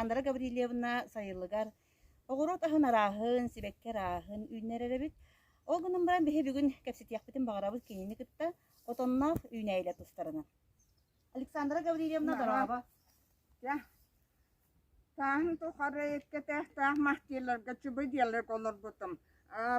Александра Гаврильевна сайылыгар оҕуруот аһын арааһын, сибэкки арааһын үүннэрэрэбит. Ол гынан баран биһи бүгүн кэпсэтиэхпитин баҕарабыт кинини кытта отонноох үүнээйилэр тустарынан. Александра Гаврильевна дорааба. Тааһын тухары эккэтээхтээх махтийларга чубу-диалек олорбутум,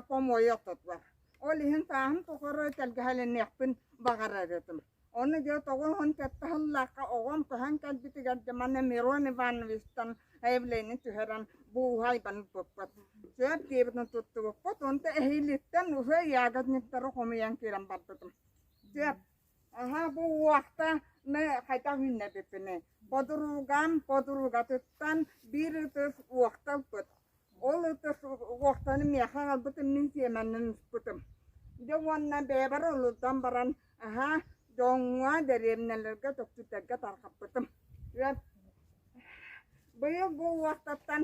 помойа охтотор. Ол иһин тааһын тухары тэлгэһэлэниэхпин баҕарар этим. Ону дьэ тоҕо уһун кэттэ аһыллаахха оҕом көһөн кэлбитигэр дьэ манна Мирон Ивановичтан заявление түһэрэн бууһа айбан ыппыппыт. Сөп диэбитин туттубуппут, онто эһииликтэн уже ягодниктары хомуйан киирэн барбытым. Сөп. Эһэ бу уохтаны хайдах үүннэрбиппиний? Бодоругам бодоругатыттан биир ытыс уохта ылбыт. Ол ытыс уохтаны миэхэ аҕалбытым мин сиэмэннэн ыспытым. Дьэ уонна бэйэбэр олордон баран эһэ дьоҥҥо, дэриэбинэлэргэ, дьокутуйдарга тарҕаппытым. Быйыл бу уохтаттан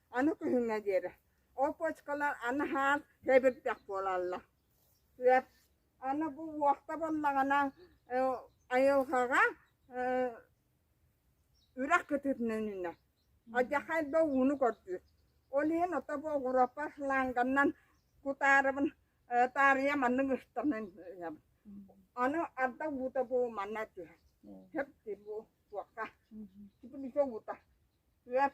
Аны күһүҥҥэ диэри ол почкалар аны хаан тэбирдэх буолаллар. Сөп. Аны бу уохта буоллаҕына айылҕаҕа үрэх кытыытынан адьахай да ууну көрдүүр. Ол иһин ото бу оҕуропа фланганынан кутаарыбын таарыйа маннык ыстанан ыйабын. Аны арда уута бу манна түһэр. Сөп бу уокка. Сибилигэ уута. Сөп.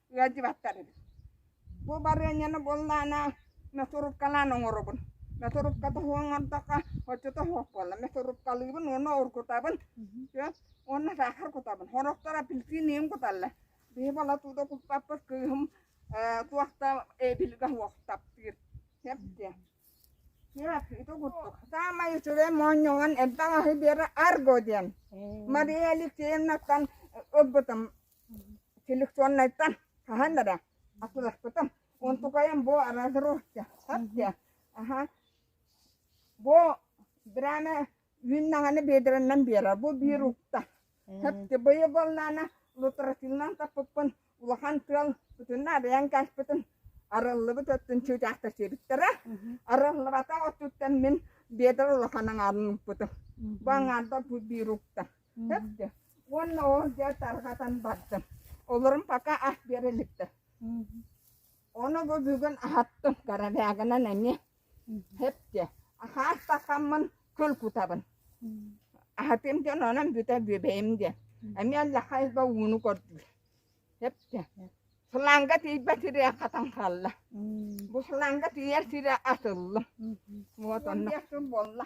ыалдьыбаттар эбит. Бу барыанньаны буоллаана метруркалаан оҥоробун. Метрурка тоһу оҥордоххо оччото суох буолла. Метруркалыыбын уонна оргутабын. Уонна саахар кутабын. Сорохторо апельсиниим куталлар. Биһи балатууда куппаппыт кыыһым туохта эбилгэ суох таптыыр. Сэптиэ. Ити курдук. Саамай үчүгэй моонньоҕон элбэх аһы биэрэ Арго диэн. Мария Алексеевнаттан ылбытым Селекционнайтан хаһан эрэ атыыласпытым. Онтукайым бу разросчахтар диэ. Аха. Бу драма үүннаҕаны биэдэрэннэн биэрэр. Бу биир укта. Сөпкө быйы болнаана лутратиннан таппыппын улахан тыал бүтүннэ арыйан каспытын арыллыбыт өттүн чуучаахтачыыбыттара. Арыллыбата оттуттан мин биэдэр улахан аҥаарын укпутум. Бу аҥаардар бу биир укта. Өттө уонна ол дьэ тарҕатан бардым. Олорум пока ас биэрэ иликтэр. Ону бу бүгүн аһаттым, карабягынан эмиэ. Эпчи, хаас такаммын көл кутабын. Аһатым дьон онон бүтэ бүбэйим диэн. Эмиэ лахай ба ууну көрдүр. Эпчи, фланга тиийбэ тириэ хатан хаалла. Бу фланга тиийэр сирэ асыллым. Вот онно. Буолла.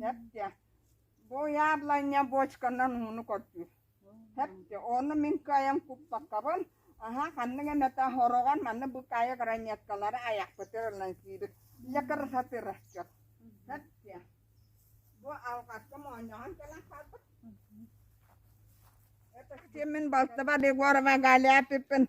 Хэпте, бу яблоня бочканан ууну көрдүүр Хэпте, ону мин кыайан куппаккабын, аһаа ханнык эмэ тас ороҕор маны быкаайы гранеткалары айахпытыгар ылан сиибит Дьэ кыра сатыырасчыт Хэпте, бу алҕаска моонньоһон кэлэн хаалбыт Это с кем мин балтыбар Егорова Галя Пиппин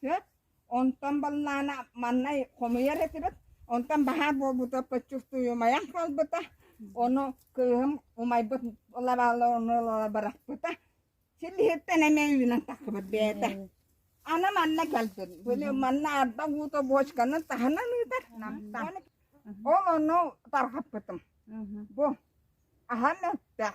Сөп. Онтон баллаана маннай хомуйар этибит. Онтон баһаар буолбута почувствуемайан хаалбыта. Ону кыыһым умайбыт лабааланыла бырахпыта. Силиһиттэн эмэ үүнэн тахпыт бээтэ. Аны манна келдин. Били манна арба гуто бочканы таһынан ыытар. Ол ону тархаппытым. Бу аһан өттөх.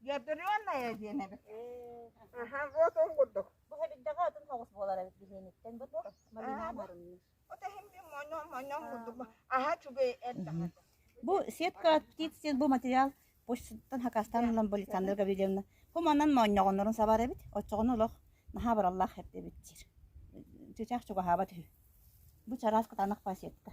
Гидрионная диэн эбит. Аха, вот он курдук. Бу эбигдэҕэ отун соҕус буолар эбит биһиэниттэн бу туох? Малина моруннус. Вот эһимди моньон моньон курдук. Аха чугэй эрдэҕэ. Бу сетка птиц бу материал почтаттан хакастан ылан Александра Гаврильевна. Бу манан моонньоҕоннорун сабар эбит. Оччоҕун олох наһаа бараллаах эрдэ эбит диир. Чычах чугаһааба түһү. Бу чараас кытаанах па сетка.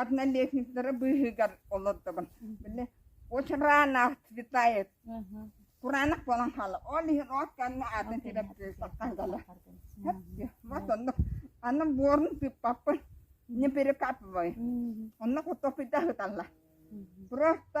однолетниктара быыһыгар олордобун били очураана светает кураанах буолан хаала ол иһин от кэннэ атын тиреп саттан кала вот оннук аны буорун тыыппаппын не перекапывай онно хотоппыта ыталла просто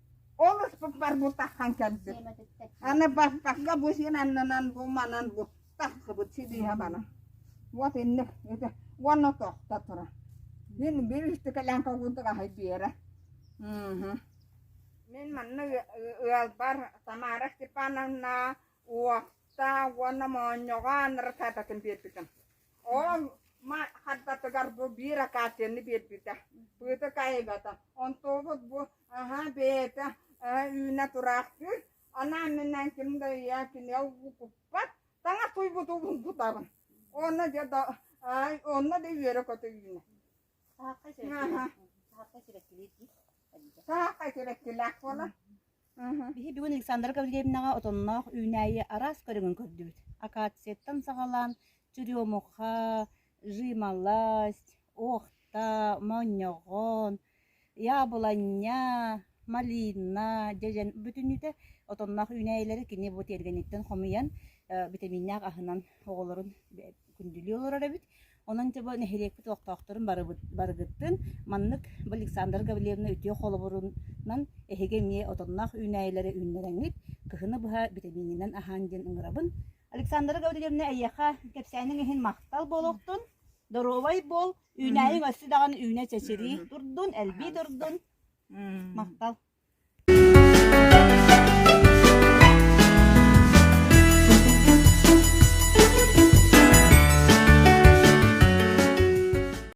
Ол ыспыппар бу таххан кэлбит. Аны баппакка бу син аннынан бу манан бу тахсыбыт сидиһэ бана. Вот инник ити уонна тохта тура. Мин билистикэлэн когунтук аһай биэрэ. Мм. Мин манна ыалбар Тамара Степановна уокта уонна моонньоҕо анракататын биэрбитим. Ол ма хардатыгар бу биир акацианы биэрбитэ. Пыты кайбата. Онтубут бу Аһа, бэйэтэ үүнэ тураахтыыр. Анаан мэнэн ким да ийэ кини укуппат. Таҥас туйбуту булбутабын. Онно дьэ да онно да үөрэ-көтө үүнэ. Саахха сирэккилиир дии. Саахха сирэккилээх буолан. Биһи бүгүн Александра Гаврильевнаҕа отонноох үүнээйи араас көрүҥүн көрдүбүт. Акацияттан саҕалаан, черемуха, Жималасть, Охта, Моонньоҕоон, Яблоня, Малина дьэдьэн бүтүннүүтэ отонноох үүнээйилэри кини бу тиэргэниттэн хомуйан битэмииннээх аһынан оҕолорун күндүлүү олорор эбит. Онон дьэ бу нэһилиэкпит олохтоохторун барыгыттын маннык бу Александра Гавриловна үтүө холобурунан эһиги эмиэ отонноох үүнээйилэри үүннэрэҥҥит, кыһыны быһа битэмиининэн аһаан диэн ыҥырабын. Александра Гаврильевна, эйиэхэ кэпсээниҥ иһин махтал буолуохтун. Доруобай буол, үүнээйиҥ өссө даҕаны үүнэ чэчирии турдун, элбии турдун. Махтал.